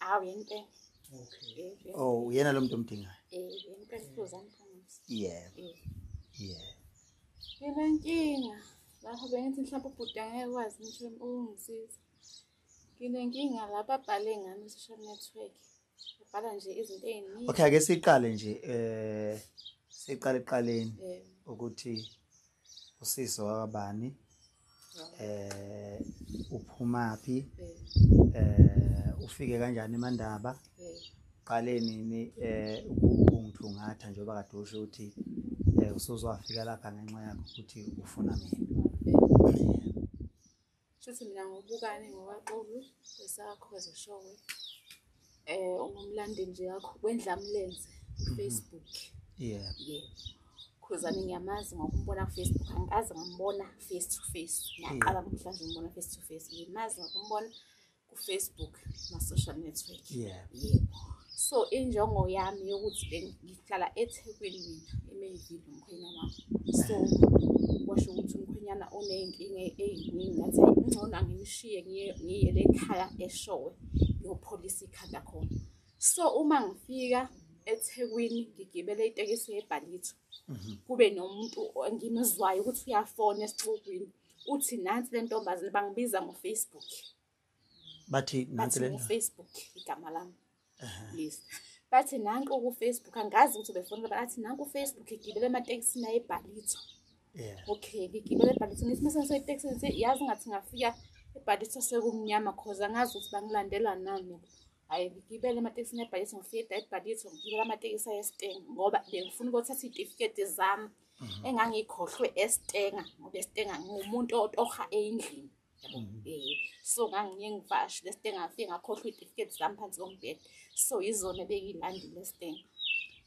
Awu yempela. Okay. Oh, uyena lo muntu omdingayo. Eh, yempela kuzoza mfundisi. Yeah. Yeah. Yena nkinga. Lapho bengithi mhlawumbe ubhuti angeke kwazi ngisho ukungisiza. Nginenkinga lapha abhale ngami social network. Ubhala nje izinto eziningi. Okay, ake siqale nje eh siqale eqaleni ukuthi usisi wakabani. eh uphumaphi eh ufike kanjani eMandaba qaleni ni eh ukungithungatha njengoba kade usho ukuthi eh usuzwafika lapha ngenxa yakho ukuthi ufuna mina Shuthi mina ngobukane ngokwaqulu esakho ezishowe eh ungumlandeli nje yakho wendlamlenze kufacebook mhm. yeah yeah khuzane ngiyamazi ngokumbona kufacebook angikaze ngambona face to face ngiyaqala namhlanje umbona face to face ngimazi ngokumbona kufacebook ma-social network yeah yebo so injongo yami yokuthi ngihlala ethekwini mina emayivile umkhwenyana wami so kwasho ukuthi umkhwenyana oney'nkinga ey'ningi ngathi ngcono angimshiye ngiyele ekhaya eshowe ngiyopholisa ikhanda khona so uma ngifika ethekwini ngigibele itekisi yebhalitho mhm. kube nomuntu engimuzwayo ukuthi uyafona esixukwini uthi nansi le ntombazane bangibiza ngofacebook bathi nansi lena Facebook igama lami list bathi nanku ku Facebook angazi ukuthi befuna bathi nanku Facebook igibele amatekisi naye ebhalitho yeah okay ngigibele ebhalitho ngithi mase ngisoyi taxi ngithi yazi ngathi ngafika ebhalitho sekumnyama cause angazi ukuthi bangilandela nani hayi ngigibele amatekisi nebhalitho ngifika ebhalitho ngigibele amatekisi ayesiteng ngoba bengifuna ukuthatha itifiketi zami mhm. engangikhohlwe esitenga ngoba esitenga ngumuntu otoha endlini yabo um so ngangiye ngivashe lesite ngafike ngakhohlwa iy'tifiketi zami phansi kombheda so yizona ebeyilandi lesitenga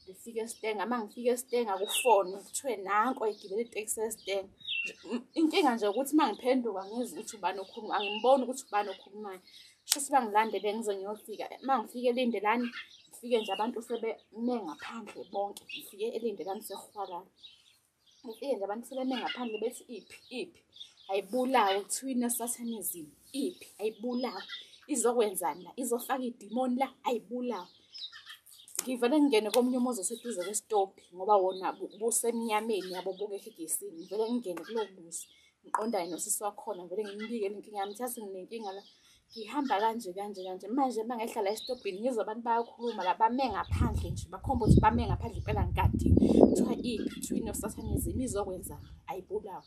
ngifike esitenga uma ngifike esitenga kufone kuthiwe nanko egibele itekisi esitenga inkinga nje ukuthi uma ngiphenduka ngizwa ukuthi ubani okhuluma angimboni ukuthi ubani okhulumayo sho ukuthi bangilandele ngize ngiyofika uma ngifike elindelani ngifike nje abantu sebeme ngaphandle bonke ngifike elindelani sehwalala Mufike nje abantu sebeme ngaphandle bethi iphi iphi ayibulawe kuthiwina satanism iphi ayibulawe izokwenzani la izofaka idimoni la ayibulawe ngivele ngingene komunye umuzi oseduze kwesitobhi ngoba wona busemnyameni yabo bukekho egesini ngivele ngingene kulowo muzi ngiqondane nosisi wakhona vele ngimbike inkinga yami thathi nginenkinga la ngihamba kanje kanje kanje manje uma ngehlala esitobhini ngizwa abantu bayakhuluma la bame ngaphandle nje bakhomba ukuthi bame ngaphandle impela ngikadi kuthiwa i-between of satanism izokwenza ayibulawe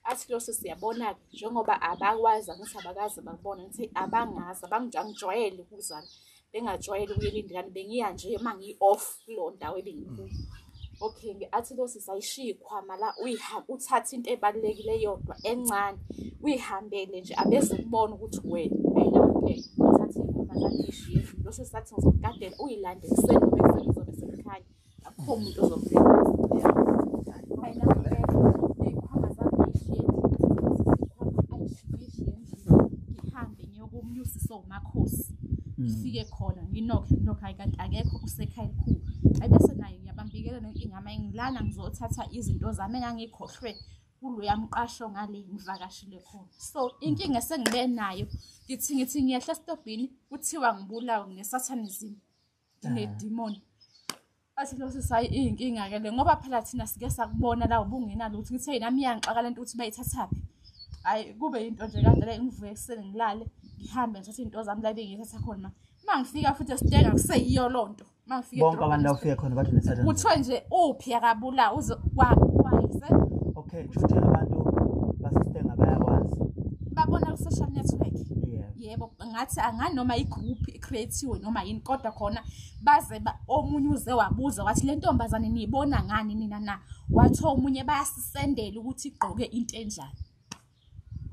athi lo sisi yabona-ke njengoba abakwazi angithi abakazi bakubona ngithi abangazi abangijwayele ukuzana bengajwayele ukuyela indikani bengiya nje uma ngi-off kuleyo ndawo ebengikuyo okay ngi-athi lo sisi ayishiye ikhwama la uyihamba uthathe into ebalulekile yodwa encane uyihambele nje abeze kubona ukuthi wena uyinakekela uthathe ikhwama lakishiye lo sisi athi ngizokugadela uyilande ekuseni bese kuzobe sekukhanya akho muntu ozobheka ngifike khona nginokhe nginokhe hayi kanti akekho usekhaya elikhulu ayi bese naye ngiyabambikela nenkinga ama ngilana ngizothatha izinto zami engangikhohlwe kuloya mqasho ngale ngivakashile khona so inkinga esengibe nayo ngithi ngithi ngiyehla esitobhini kuthiwa ngibulawe ngesathanism unedimoni athi lo sisi hayi iyinkinga ke le ngoba phela thina sike sakubona la ubungena lutho ngithe yena miyangixaka lento ukuthi bayithathaphi hayi kube into nje kade le ngivuke ekuseni ngilale ngihambe ngithathe into zami la bengithatha khona ma ngifika futhi esiteka kuseyiyo loo nto ma ngifike bonke abantu la ufike khona bathi nesatana kuthiwe nje uphi akabula uze kwayise okay kushuthi abantu basisitenga bayakwazi babona ku social network yebo yeah. ngathi angani noma i-group ecreatiwe noma yini kodwa khona baze omunye uze wabuza wathi le ntombazane niyibona ngani nina na wathi omunye bayasisendela ukuthi igqoke into enjani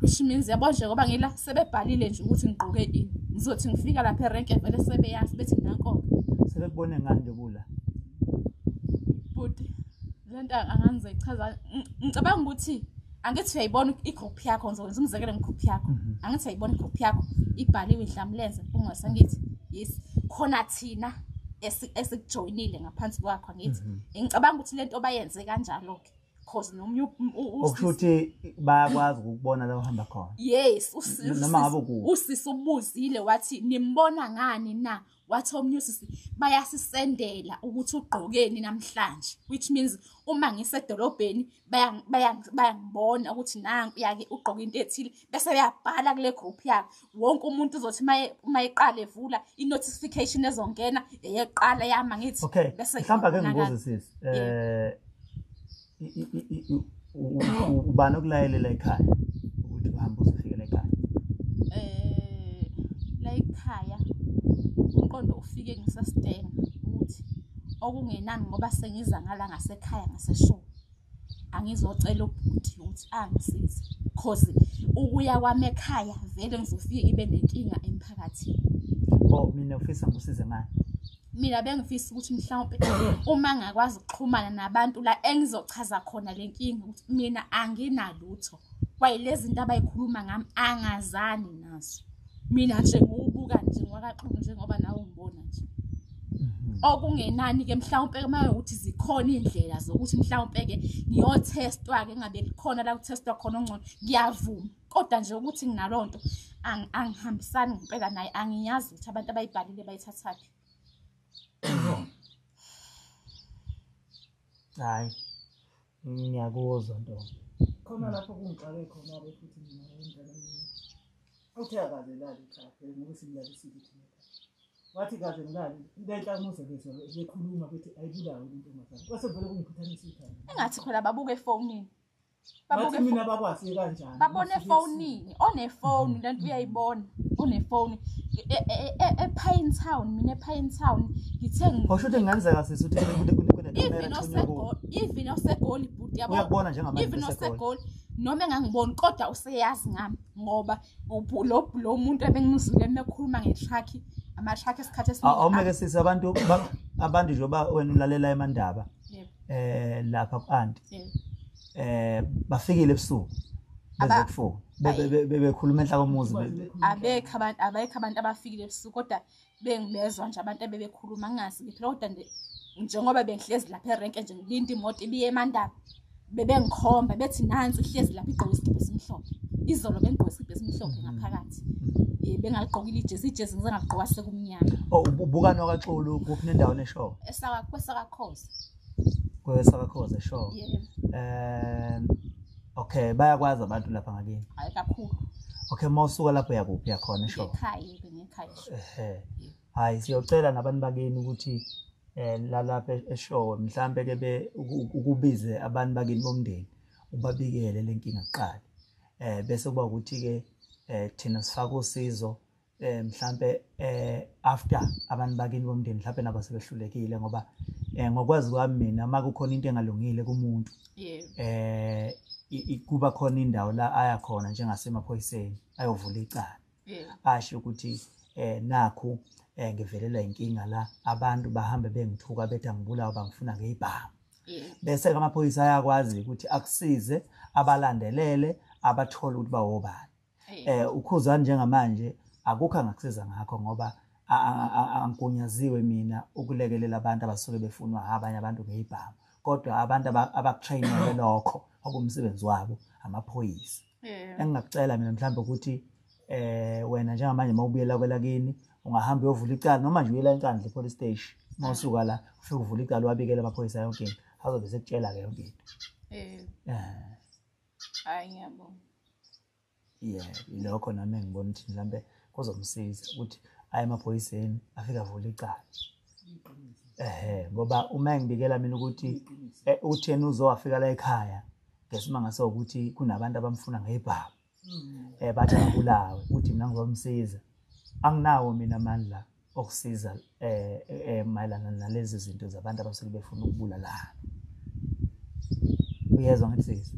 which means yabo nje ngoba ngila sebebhalile nje ukuthi ngigqoke ini ngizothi ngifika lapha erenke vele sebeyazi bethi nankoke sebekubone ngani nje kula bhuti le nto angangize ichaza ngicabanga ukuthi angithi uyayibona igroup yakho ngizokwenza umzekelo ngegroup yakho mhm. angithi uyayibona igroup yakho ibhaliwe idlamlenze mpungose angithi yes khona thina esikujoyinile ngaphansi kwakho angithi mhm. ngicabanga ukuthi lento bayenze kanjalo ke cause nomunye okusho ukuthi bayakwazi ukubona la uhamba khona yes noma ngabe ku usisi ubuzile wathi nimbona ngani na wathi omunye usisi bayasisendela ukuthi ugqokeni namhlanje which means uma ngisedolobheni bayangibona ukuthi nangu yake ugqoke into ethile bese beyabhala kule group yakhe wonke umuntu uzothi uma eqala evula i-notification ezongena eyeqala yama ngithi okay mhlawumbe ake ngibuze sisi um ubani okulayelela ekhaya ukuthi uhambe uzofikela ekhaya eh la ekhaya umqondo ufike ngisastena ukuthi okungenani ngoba sengiza ngala ngasekhaya ngaseshoni angizocela ubhuti ukuthi angisize cause ukuya kwami ekhaya vele ngizofike ibe nenkinga emphakathini oh mina ufisa ngisize ngani mina bengifisa ukuthi mhlawumbe uma ngakwazi ukuxhumana nabantu la engizochaza khona le nkinga ukuthi mina anginalutho kwaye lezi zinto abayikhuluma ngami angazani nazo mina nje ngiwubuka nje ngwakaxulu njengoba nawe ngibona nje mhm. okungenani-ke mhlawumpe uma ukuthi zikhona iy'ndlela zokuthi mhlawumpe-ke ngiyothestwa-ke ngabe likhona la kuthestwa khona ongcono ngiyavuma kodwa nje ukuthi nginaloo nto angihambisani ngempela naye angiyazi ukuthi abantu abayibhalile bayithathaphi hayi ngiyakuzwa nto khona lapho kungixake khona ke futhi mina ngiyindlela mina uthe akaze lali kahle ngoba simlalisile thina wathi kaze ngilali lenhla umuze bezwa bekhuluma bethi ayibulawe intombazane kwase vele kungiphuthanisa ikhaya engathi khona babuke efonini bathi mina bakwazi kanjani babona efonini onefoni lento uyayibona onefoni epine town mina epine town ngithe ngosho ukuthi ngenzeka sisi ukuthi even osegoli even osegoli bhuti yabo uyabona njengamanje even osegoli noma engangiboni kodwa useyazi ngami ngoba lo lo muntu ebengimuzile mekhuluma ngetruck ama truck esikhathi esiningi awumeke sisi abantu abantu njengoba wena ulalela emandaba eh lapha ku aunt eh bafikile ebusuku bezokufuna bebekhuluma enhla komuzi abekho abantu abekho abantu abafikile ebusuku kodwa bengibezwa nje abantu abebekhuluma ngingasi ngiphela kodwa nje njengoba bengihlezi lapha erenke nje ngilinda imoto ibiye emandaba bebengikhomba bethi nansi uhlezi lapha igqoke isigibhe esimhlophe izolo bengigqoke isigibhe esimhlophe mm. ngaphakathi um bengaligqokile ijezi ijezi ngize ngaligqoka sekumnyama oh, ubukani wakaxulu kuphi nendawo neshow kwesakakhosi kwesakakhoze sure um okay bayakwazi abantu lapha ngakini hayi kakhulu okay uma usuka lapho uyakuphi yakhona sure hayi siyocela nabantu bakini ukuthi um lalapha eshowe mhlawumbe ke be ukubize abantu bakini bomndeni ubabikele le nkinga kuqala um bese kuba ukuthi-ke um thina sifake usizo eh mhlambe eh after abantu bakini bomndeni mhlambe nabo sebehlulekile ngoba eh ngokwazi kwami mina uma kukhona into engalungile kumuntu eh kuba khona indawo la aya khona njengasemaphoyiseni ayovula icala asho ukuthi eh nakhu eh ngivelelwa inkinga la abantu bahambe bengithuka bethi angibulawa bangifuna ngeyibhamu bese ke amaphoyisa ayakwazi ukuthi akusize abalandelele abathole ukuthi bawobani eh ukhuzani njengamanje akukho angakusiza ngakho ngoba angigunyaziwe mina ukulekelela abantu abasuke befunwa abanye abantu ngeyibhamu kodwa abantu abakutrainele lokho okumsebenzi wabo amaphoyisa engingakucela mina mhlawumbe ukuthi eh wena njengamanje mawubuyela kwelakini ungahamba uyovula icala noma nje uyela enkandla epolice station mawusuka la ufike uvula icala wabikela amaphoyisa yonke into azobe sekutshela ke yonke into eh, eh. hayi ngiyabonga yeah ilokho nami engibona ukuthi mhlampe kuzomsiza ukuthi aye emaphoyiseni afike avule icala ehe ngoba uma engibikela mina ukuthi eh, utheni uzowafika la ekhaya ngesimanga sokuthi kunabantu abamfuna ngebhamu um bathi abulawe ukuthi mina ngizomsiza anginawo mina amandla okusiza eh, eh mayelana nalezi zinto zabantu abasuke befuna ukubulalana uyezwa ngathi sisi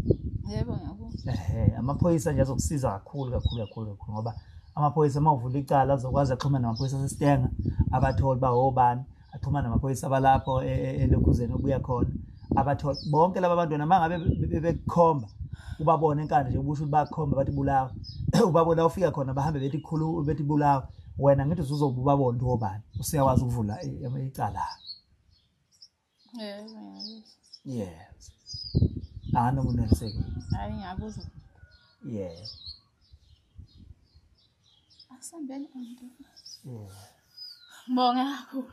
yebo ngiyabo eh amaphoyisa nje azokusiza kakhulu kakhulu kakhulu kakhulu ngoba amaphoyisa uma uvula icala azokwazi axhumana namaphoyisa asesitenga abatholi ba obani axhumana namaphoyisa abalapho e, e, elokhuzeni obuya khona abatholi bonke laba bantu noma ngabe bekukhomba ubabone enkandla nje ubusho ukuthi bakhomba bathi bulawa ubabona ufika khona bahambe bethi khulu bethi bulawa wena ngithi uzoba ubaba onto obani usiyakwazi ukuvula icala yes ana muneliseki hayi ngiyakuzwa yes asambeni onto yeah bonga kakhulu